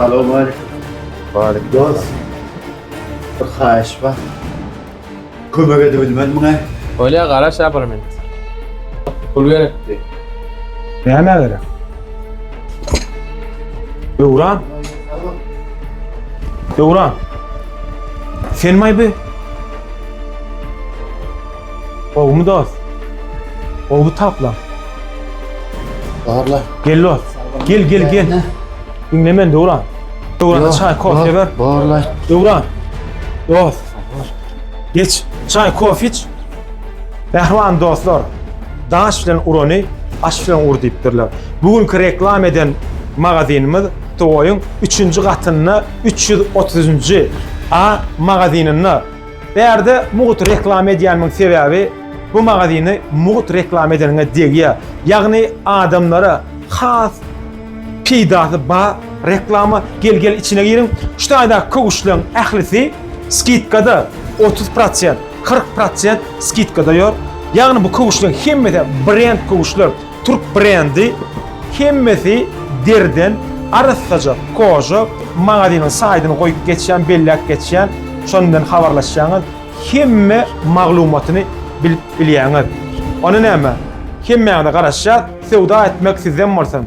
Alo Malik. Malik. Dost. Bir haýyş bar. Kömek edip bilmez muňa. Öyle garaş yaparım ben. Pul gerekti. Näme gerek? Döwran. Döwran. Sen maýby? Gowumy dost? Gowy tapla. Barla. Gel dost. Gel gel gel. Diňle men Döwran. Döwran çay kofe ber. Barla. Döwran. Dost. Geç. Çay kofe iç. Bähwan dostlar. Daş bilen urany aş bilen ur diýipdirler. Bu günki reklam eden magazinimiz Toýuň 3-nji gatynda 330-njy A magazininde Bärde mugut reklama edýänmiň sebäbi bu magazyny mugut reklama edeniňe degýär. Ýagny adamlara has peýdasy bar reklama gel gel içine giriň. Şu taýdaky köwüşleriň ählisi skidkada otuz prosent, kyrk prosent skidkada ýör. Ýagny bu köwüşleriň hemmesi brend köwüşler. Türk brendi hemmesi deriden arassaja koja magazynyň saýdyny goýup geçýän belläp geçýän şon bilen habarlaşýaňyz hemme maglumatyny bilip bilýäňiz ony näme hemmäňize garaşýas söwda etmek sizden bolsun.